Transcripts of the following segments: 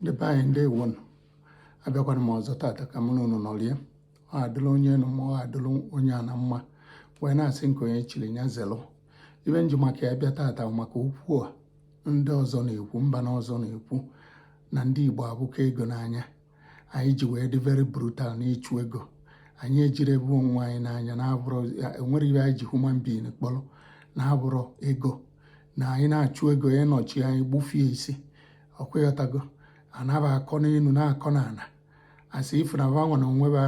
ndị be anyị ndewo nụ abịakwana m ọzọ tata ka mụ na unu nọlie ọ adịla onye enu mma ọ adịla onye ana mma wee na-asị nke onye chiri ya zelụ ibe m ji maka ya bịa tata maka okwu a ndị ọzọ na-ekwu mba na ọzọ na-ekwu na ndị Igbo abụkọ ego n'anya anyị ji wee dị very brutal n'ịchụ ego anyị ejiri ebe onwe anyị n'anya na-abụrụ enwere ihe anyị ji human being kpọrọ na-abụrụ ego na anyị na-achụ ego ya nọchi anyị gbufie isi ọkwa ịghọtago anaba akọ n'enu na-akọ n'ana as if na ba nwa na onwe ba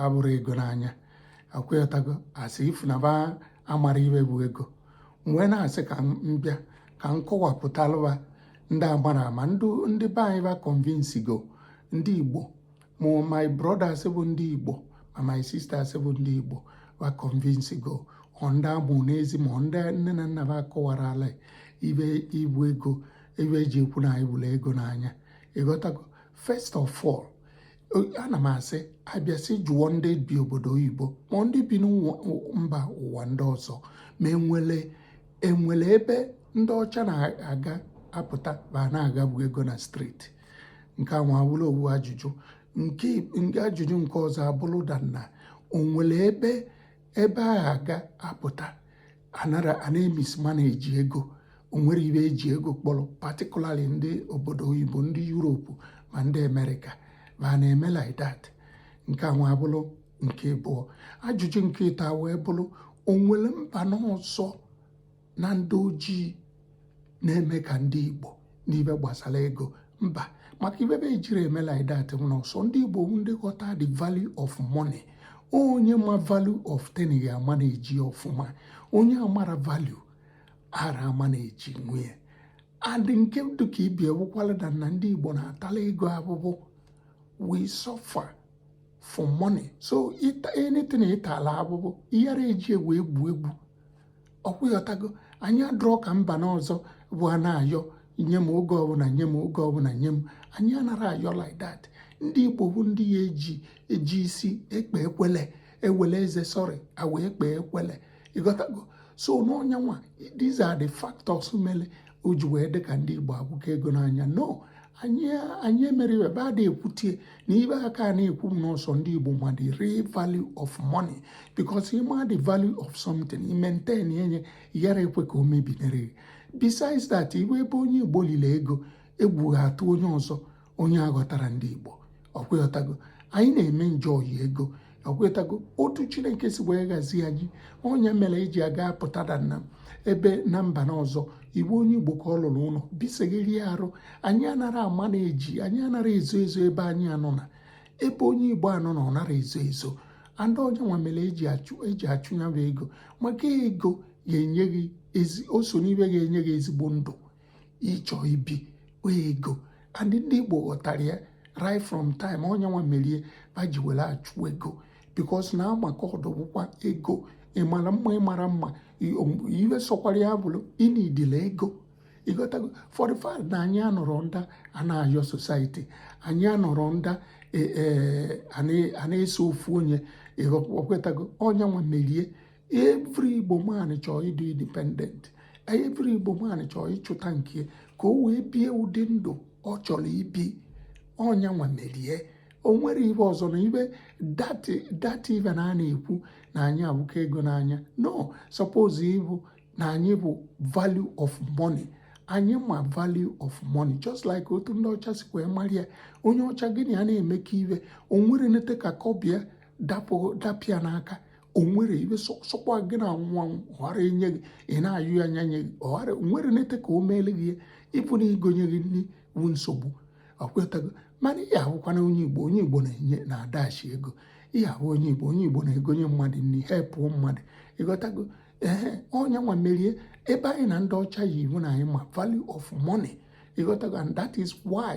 abụrụ ego n'anya ọkwa ịghọtago as if na ba amara ibe bụ ego m wee na-asị ka m bịa ka m kọwapụtalụ ba ndị amara ama ndị be anyị ba convince go ndị igbo ma my brothers bụ ndị igbo ma my sisters bụ ndị igbo ba convince go ọ ndị amụ n'ezi ma ndị nne na nna ba akọwarala ibe ibu ego ibe eji ekwu na anyị bụrụ ego n'anya ịghọtago first of all ana m asị abịasị jụọ ndị bi obodo oyibo ma ndị bi mba ụwa ndị ọzọ ma enwere enwere ebe ndị ọcha na-aga apụta ba na-aghagbu ego na street nke a wee bụrụ owu ajụjụ nke ajụjụ nke ọzọ abụrụ da na onwere ebe ebe a ga-apụta anara a na-emismanage ego onwere ibe eji ego kpọrọ particularly ndị obodo oyibo ndị Europe ma ndị America ma a na-eme like that nke a wee bụrụ nke abụọ ajụjụ nke ịtọ wee bụrụ onwere mba n'ọzọ na ndị ojii na-eme ka ndị Igbo n'ibe gbasara ego mba maka ibe ba ejiri eme like that na ọ sọ ndị Igbo bụ ndị ghọta the value of money onye ma value of thing ya ama na-eji ọfụma onye amara value ara ama na-eji ya and nke dị ka ibia wụkwala na na ndị Igbo na-atala ego abụbụ we suffer for money so anything ịtala abụbụ ị yara eji ewe egwu egwu ọkwa ịghọtago anyị adịrọ ka mba na ọzọ bụ a na-ayọ nye m oge ọbụla nye m oge ọbụla nye m anyị anara ayọ like that ndị igbo bụ ndị ya eji eji isi ekpe ekwele ewele eze sorry awa ekpe ekwele ịghọtago so n'ọnya nwa these are the factors mere o ji wee dị ka ndị igbo abụkọ ego n'anya no anyị anyị emere ibe ba da ekwutie na ibe aka a na-ekwu m na ọ sọ ndị Igbo ma the real value of money because ị ma the value of something i maintain ye ị yara ekwe ka o mebinere besides that iwe ebe onye Igbo lile ego egwu ya atụ onye ọzọ onye aghọtara ndị Igbo ọkwa ịghọtago anyị na-eme enjoy ego ọkwa ịghọtago otu chineke si wee gọzie anyị ọnya mere eji aga apụta da na ebe na mba na ọzọ iwu onye igbo ka ọ lụrụ ụlọ bisegherie arụ anyị anara ama na-eji anyị anara ezo ezo ebe anyị anọ na ebe onye igbo anọ na ọ nara ezo ezo and ọnya nwa mere eji achụ eji achụ ya bụ ego maka ego ga-enye gị ezi o so n'ibe ga-enye gị ezigbo ndụ ị chọ ibi ego and ndị Igbo ghọtara ya right from time ọnya nwa merie ba ji were achụ ego because na amaka ọdọbụkwa ego ịmara mma ịmara mma iwe sọkwara ya bụrụ ị needile ego ịghọtago for the fact na anyị anọrọ nda a na-ayọ society anyị anọrọ nda e, e, a na-eso ofu onye ịghọkwetago ọnya nwa merie every Igbo man chọọ ịdị independent every Igbo man chọọ ịchụta nke ka o wee bie ụdị ndụ ọ chọrọ ibi ọnya nwa merie o nwere ibe ọzọ na ibe data ibe na a na-ekwu na anyị awụka ego n'anya no suppose ịbụ na anyị bụ value of money anyị ma value of money just like otu ndị ọcha si wee mara ya onye ọcha gị na ya na-emekọ ibe o nwere nete ka kọbọ ya dapụ ya n'aka o nwere ibe sọkwa gị na nwa ọghara enye gị ị na-ayọ ya anya nye gị ọghara nwere nete ka o meele gị ya even igonye gị nri wu nsogbu ọkwetago mana ị ya-ahụkwana onye igbo onye igbo na-enye na-adashi ego ị ya-ahụ onye igbo onye igbo na-egonye mmadụ nri helpụọ mmadụ ịghọtago ee ọnya nwa merie ebe anyị na ndị ọcha yi wu na anyị ma value of money ịghọtago and that is why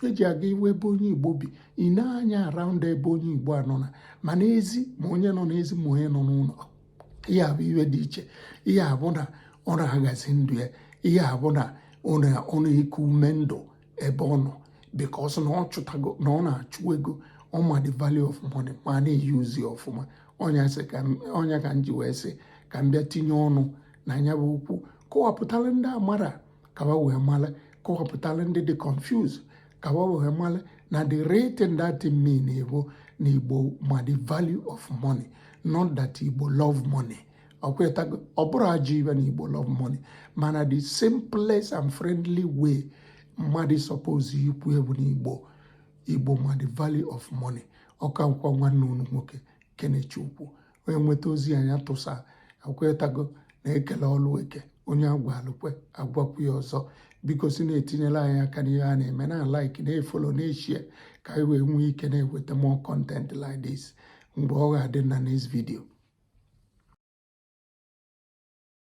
eji aga iwu ebe onye igbo bi ị na-anya around ebe onye igbo a nọ na ma n'ezi ma onye nọ n'ezi ma onye nọ n'ụlọ ị ya-awụ iwe dị iche ị ya-awụ na ọ na-ahazi ndụ ya ị ya-awụ na ọ na-eku ume ndụ ebe ọ nọ because na ọ chụtago na ọ na-achụ ego ọ ma the value of money ma na-euse ya ọfụma ọnya ka m ji wee sị ka m bịa tinye ọnụ na nya bụ okwu kọwapụtara ndị amara ka ba wee mara kọwapụtara ndị dị confused ka ba wee mara na the real thing that mean bụ na igbo ma the value of money not that igbo love money ọkwetago ọ bụrụ ajọ ibe na igbo love money mana the simplest and friendly way mmadụ suppose ikwu ya bụ na igbo igbo ma the value of money ọ kakwa nwanne unu nwoke kenechukwu onye nweta ozi a nya tụsaa ọkwetago na ekele ọlụ eke onye agwalụ kwe agwakwu ya ọzọ biko si na-etinyela anyị aka n'ihe a na-eme na-alike na-efollow na-eshare ka anyị wee nwee ike na-eweta more content like this mgbe ọ ga-adị na next video